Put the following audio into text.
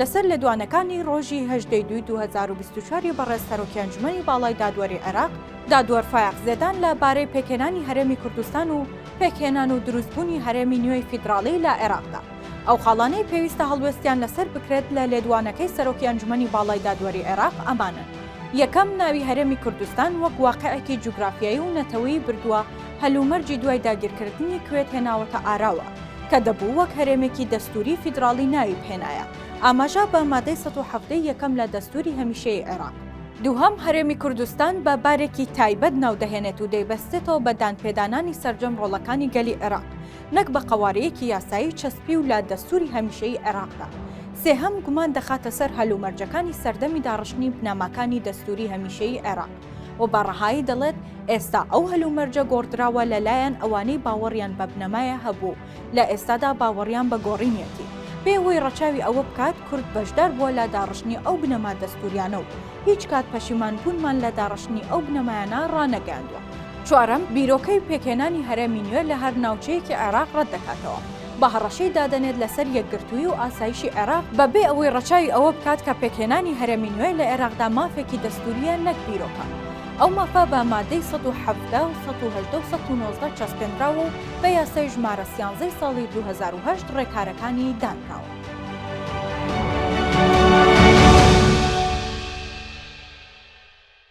لەسەر لێدوانەکانی ڕۆژی هەژدەی دووی دوو هەزار و بیست و چوار ی بەڕێز سەرۆکی ئەنجومەنی باڵای دادوەری عێراق، دادوەر فایەق زێدان لە بارەی پێکهێنانی هەرێمی کوردستان و پێکهێنان و دروستبوونی هەرێمی نوێی فیدراڵی لە عێراقدا، ئەو خاڵانەی پێویستە هەڵوێستیان لەسەر بکرێت لە لێدوانەکەی سەرۆکی ئەنجومەنی باڵای دادوەری عێراق ئەمانەن، یەکەم، ناوی هەرێمی کوردستان وەک واقیعێکی جوگرافیایی و نەتەوەیی بردووە هەلومەرجی دوای داگیرکردنی کوێت هێناوەتە ئاراوە، کە دەبوو وەک هەرێمێکی دەستووری فیدراڵی ناوی بهێنایە، ئاماژە بە مادەی سەد و حەڤدە ی یەکەم لە دەستووری هەمیشەیی عێراق. دووهەم، هەرێمی کوردستان بە بارێکی تایبەت ناو دەهێنێت و دەیبەستێتەوە بە دانپێدانانی سەرجەم ڕۆڵەکانی گەلی عێراق، نەک بە قەوارەیەکی یاسایی چەسپیو لە دەستووری هەمیشەیی عێراقدا. سێهەم، گومان دەخاتە سەر هەلومەرجەکانی سەردەمی داڕشتنی بنەماکانی دەستووری هەمیشەیی عێراق. و بە ڕەهایی دەڵێت، ئێستا ئەو هەلومەرجە گۆڕدراوە لەلایەن ئەوانەی باوەڕیان بە بنەمایە هەبوو، لە ئێستادا باوەڕیان بە گۆڕینیەتی، بێهۆی ڕەچاوی ئەوە بکات کورد بەشدار بووە لە داڕشتنی ئەو بنەما دەستووریانە و هیچ کات پەشیمان بوونمان لە داڕشتنی ئەو بنەمایانە ڕانەگەیاندووە. چوارەم، بیرۆکەی پێکهێنانی هەرێمی نوێ لە هەر ناوچەیەکی عێراق ڕەتدەکاتەوە، بە هەڕەشەی دادەنێت لەسەر یەکگرتووی و ئاسایشی عێراق بە بێ ئەوەی ڕەچاوی ئەوە بکات کە پێکهێنانی هەرێمی نوێ لە عێراقدا مافێکی دەستوورییە نەک بیرۆکە. ئەو مافە بە مادەی سەد و حەڤدە و سەد و هەژدە و سەد و نۆزدە چەسپێنراوە و بە یاسای ژمارە سیانزەی ساڵی دوو هەزار و هەشت ڕێکارەکانی دانراوە.